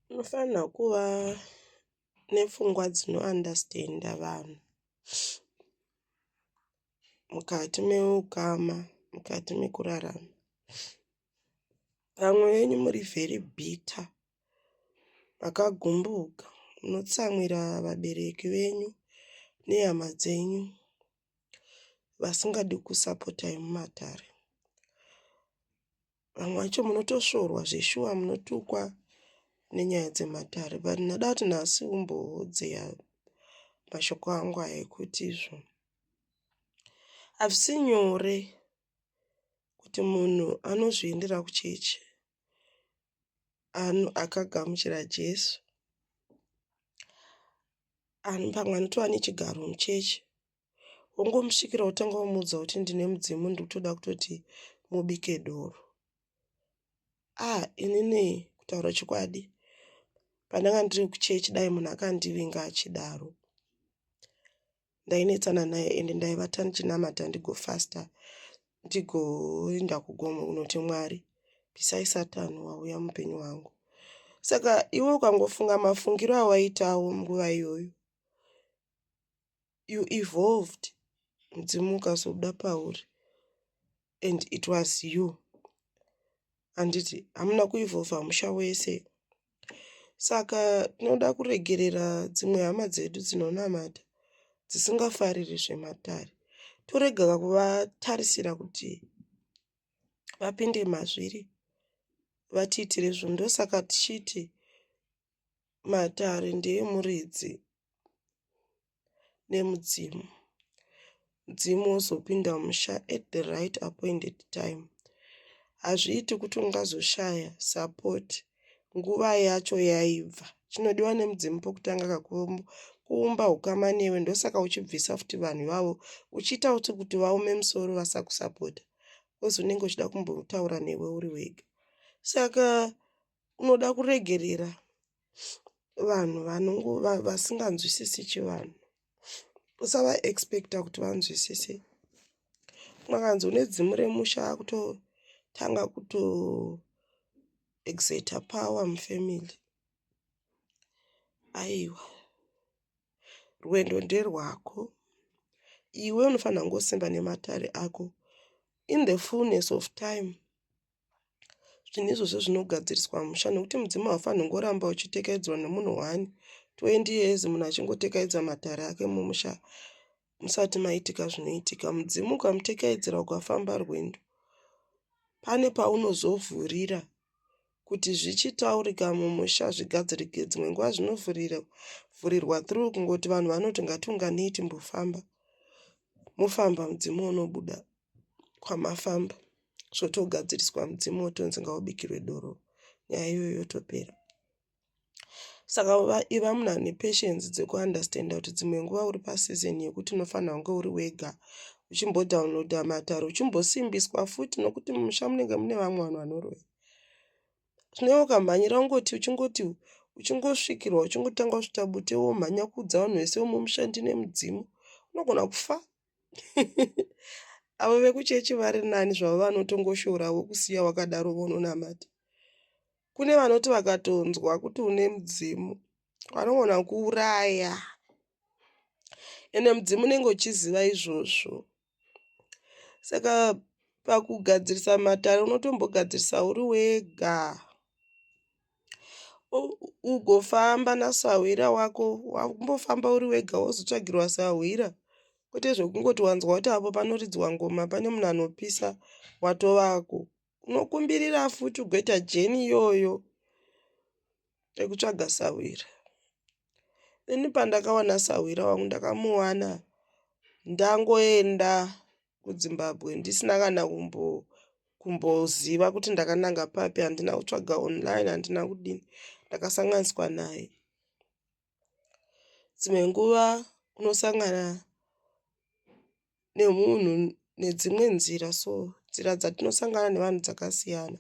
Unofanirwa kuva nepfungwa dzino andastenda vanhu mukati meukama, mukati mekurarama. Vamwe venyu muri vheri bhita, makagumbuka, munotsamwira vabereki venyu nehama dzenyu vasingadi kusapotai mumatare. vamwe vacho munotosvorwa zveshuwa munotukwa nenyaya dzematare but ndada kuti nhasi umbohodzeya mashoko angu aya ekuti izvo hazvisi nyore kuti munhu anozviendera kuchechi anu akagamuchira jesu anu pamwe anotova nechigaro muchechi wongomusvikira wotanga wamuudza kuti ndine mudzimu ndikutoda kutoti mubike doro ah inini kutaura chokwadi pandanga ndiri kuchechi dai munhu akandivinga achidaro ndainetsana naye ende ndaivata ndichinamata ndigofasta ndigoenda kugomo kunoti mwari pisai satani wauya mupenyu wangu saka iwe ukangofunga mafungiro awaitawo nguva iyoyo you evolved mudzimu ukazobuda pauri and it was you handiti hamuna kuevolva musha wese saka tinoda kuregerera dzimwe hama dzedu dzinonamata dzisingafariri zvematare torega kuvatarisira kuti vapinde mazviri vatiitire zvinhu ndosaka tichiti matare ndeemuridzi nemudzimu. Mudzimu wozopinda musha at the right appointed time. Hazviiti kuti ungazoshaya support nguva yacho yaibva. Chinodiwa nemudzimu pokutanga kakumbo kuumba ukama newe ndosaka uchibvisa futi vanhu ivavo uchiita kuti kuti vaome musoro vasakusapota kozi unenge uchida kumbotaura newe uri wega saka unoda kuregerera vanhu vanongo vasinganzwisisi chivanhu usava expecta kuti vanzwisise mwakanzi une dzimu remusha akutotanga kuto exeta power mufamily aiwa rwendo nderwako iwe unofanira kungosimba nematare ako in the fullness of time Zvinhu izvozvo zvinogadziriswa musha nekuti mudzimu haufanhi kungoramba uchitekaidzwa nemunhu one 20 years munhu achingotekaidza matare ake mumusha musati maitika zvinoitika. Mudzimu ukamutekaidzira ukafamba rwendo pane paunozovhurira kuti zvichitaurika mumusha zvigadzirike dzimwe nguva zvinovhurirwa through kungoti vanhu vanoti ngatiunganei timbofamba mofamba mudzimu unobuda. kwamafamba zvotogadziriswa mudzimu wotonzi ngaubikirwe doro nyaya iyoyo yotopera saka iva munhu ane patience dzekuunderstanda kuti dzimwe nguva uri pasizon yekuti unofanira kunge uri wega uchimbodownloada matare uchimbosimbiswa futi nokuti mumusha munenge mune vamwe vanhu vanoroya zvinee ukamhanyira ungoti uchingoti uchingosvikirwa uchingotanga kusvita bute womhanya kuudza vanhu vese vomumusha ndine mudzimu unogona kufa avo vekuchechi vari nani zvavo vanotongoshorawo kusiya wakadaro vononamata kune vanoti vakatonzwa kuti une mudzimu vanogona kuuraya ende mudzimu unenge uchiziva izvozvo saka pakugadzirisa matare unotombogadzirisa uri wega ugofamba nasahwira wako wambofamba uri wega wozotsvagirwa sahwira kwete zvekungoti wanzwa kuti apo panoridzwa ngoma pane munhu anopisa watovako unokumbirira futi ugoita jeni iyoyo rekutsvaga sahwira ini pandakawana sahwira wangu ndakamuwana ndangoenda kudzimbabwe ndisina kana kumbo kumboziva kuti ndakananga papi handina kutsvaga online handina kudini ndakasanganiswa naye dzimwe nguva unosangana nemunhu nedzimwe nzira so nzira dzatinosangana nevanhu dzakasiyana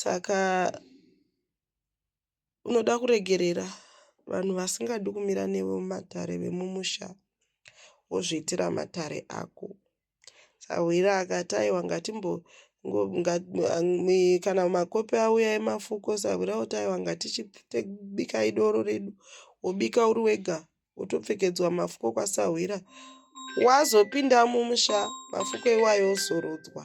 saka Unoda kuregerera vanhu vasingadi kumira newe mumatare vemumusha wozviitira matare ako. Sahwira akati aiwa ngatimbo ngo, nga, mi, kana makope auya emafuko sahwira oti aiwa ngatichibika idoro redu wobika uri wega wotopfekedzwa mafuko kwasahwira wazopinda mumusha mafuko iwayo ozorodzwa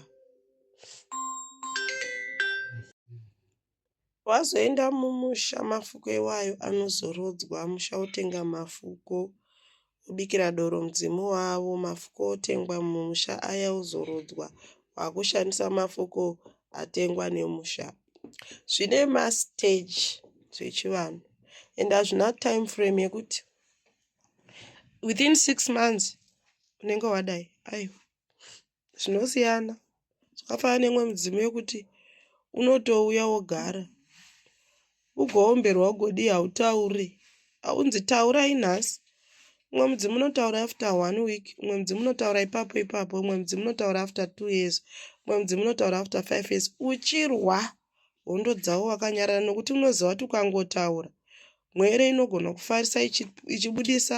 Wazoenda mumusha mafuko iwayo anozorodzwa musha otenga mafuko obikira doro mudzimu wavo mafuko otengwa mumusha aya ozorodzwa wakushandisa mafuko atengwa nemusha zvine mastage zvechivanhu and hazvina time frame yekuti within six months unenge wadai aiwa zvinosiyana zvakafanana neimwe midzimu yekuti unotouya wogara ugoomberwa ugodii hautaure haunzi taurai nhasi umwe mudzimu unotaura after one week umwe mudzimu unotaura ipapo ipapo umwe mudzimu unotaura after two years umwe mudzimu unotaura after five years uchirwa hondo dzavo vakanyarara nokuti unoziva kuti ukangotaura mwere inogona kufarisa ichibudisa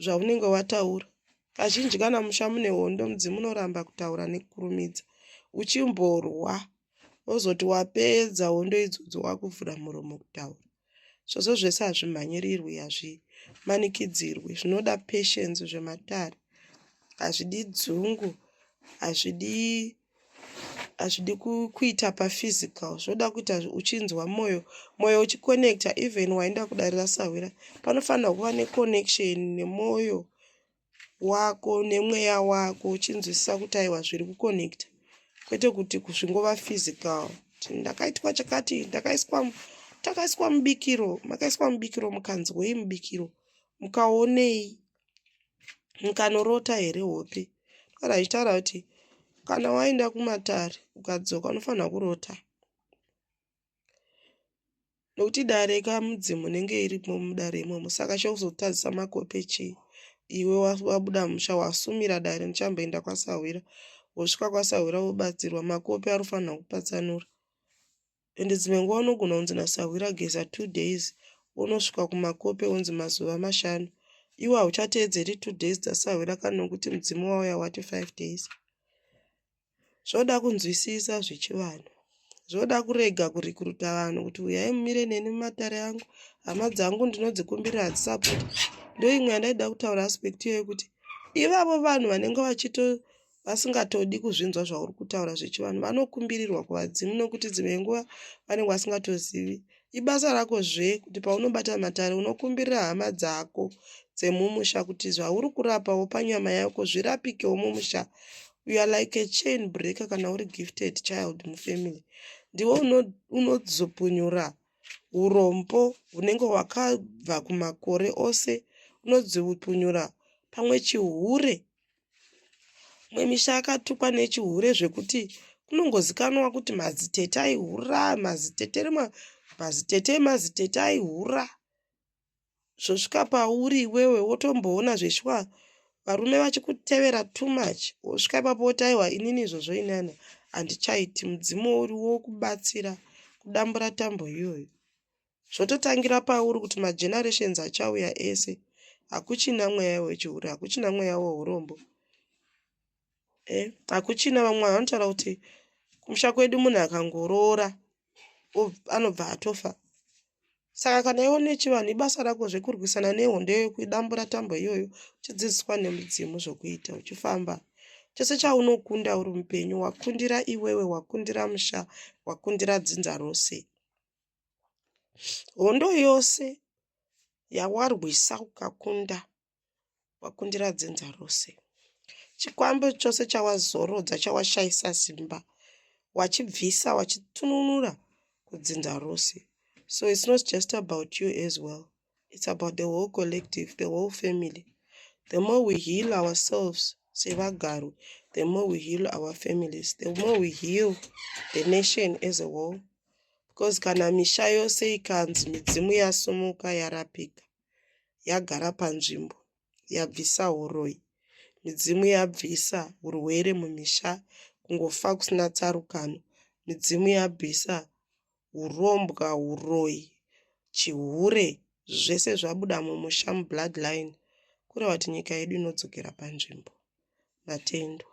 zvaunenge wataura kazhinji kana musha mune hondo mudzimu unoramba kutaura nekukurumidza uchimborwa ozoti wapedza hondo idzodzo wakuvhura muromo kutaura Zvose zvese hazvimhanyirirwi, hazvimanikidzirwi. Zvinoda patience zvematare. Hazvidi dzungu, hazvidi hazvidi kuita paphysical zvoda kuita uchinzwa moyo moyo uchiconnecta even waenda kudarira sahwira panofanira kuva neconnection nemoyo wako nemweya wako uchinzwisisa kuti aiwa zviri kuconnecta kwete kuti zvingova physical ndakaitwa chakati ndakaiswa takaiswa mubikiro makaiswa mubikiro mukanzwei mubikiro mukaonei mukanorota here hope kana achitaura kuti kana waenda kumatare ukadzoka unofanira kurota Nokuti dare kamudzimu inenge irimo mudare imomo saka chokuzotadzisa makope chii iwe wabuda musha wasumira dare ndichamboenda kwasahwira wosvika kwasahwira wobatsirwa makope ari kufanira kupatsanura ende dzimwe nguva unogona kunzi nasahwira geza two days wonosvika kumakope wonzi mazuva mashanu iwe hauchateedzeri two days dzasahwira kana nokuti mudzimu wauya wati five days Zvoda kunzwisisa zvechivanhu. Zvoda kurega kurikuruta vanhu kuti uyai mumire neni mumatare angu. Hama dzangu ndinodzikumbirira hadzisapoti. Ndoimwe yandaida kutaura aspect iyoyo kuti ivavo vanhu vanenge vachito vasingatodi kuzvinzwa zvauri kutaura zvechivanhu vanokumbirirwa kuvadzimu nokuti dzimwe nguva vanenge vasingatozivi Ibasa rako zve kuti paunobata matare unokumbirira hama dzako dzemumusha kuti zvauri kurapa wopa nyama yako zvirapikewo mumusha. You are like a chain breaker kana uri gifted child mufamily. Ndiwe unozopunyura uno urombo hunenge hwakabva kumakore ose unodziupunyura pamwe chihure Imwe misha yakatukwa nechihure zvekuti kunongozikanwa kuti mazitete aihura, mazitete rimwe, mazitete emazitete aihura. Zvosvika pauri iwewe wotomboona zveshuwa varume vachikutevera too much. Wosvika ipapo woti aiwa inini izvozvo ini ano handichaiti mudzimu uriwo wokubatsira kudambura tambo iyoyo. zvototangira pauri kuti magenerations achauya ese hakuchina mweya wechihure hakuchina mweya weurombo eh, hakuchina vamwe vanotaura kuti kumusha kwedu munhu akangoroora anobva atofa saka kana iwo nechivanhu ibasa rako zvekurwisana nehondo iyoyo kuidambura tambo iyoyo uchidzidziswa nemudzimu zvokuita uchifamba chose chaunokunda uri mupenyu wakundira iwewe wakundira musha wakundira dzinza rose Hondo yose yawarwisa ukakunda wakundira dzinza rose. Chikwambo chose chawazorodza chawashaisa simba wachibvisa wachitununura kudzinza rose. So it's not just about you as well. it's about the whole collective the whole family the more we heal ourselves sevagaro the more we heal our families the more we heal the nation as a whole because kana misha yose ikanzi midzimu yasumuka yarapika yagara panzvimbo yabvisa huroyi midzimu yabvisa hurwere mumisha kungofa kusina tsarukano midzimu yabvisa hurombwa huroyi chihure zvese zvabuda mumusha mublood line kureva kuti nyika yedu inodzokera panzvimbo matendwa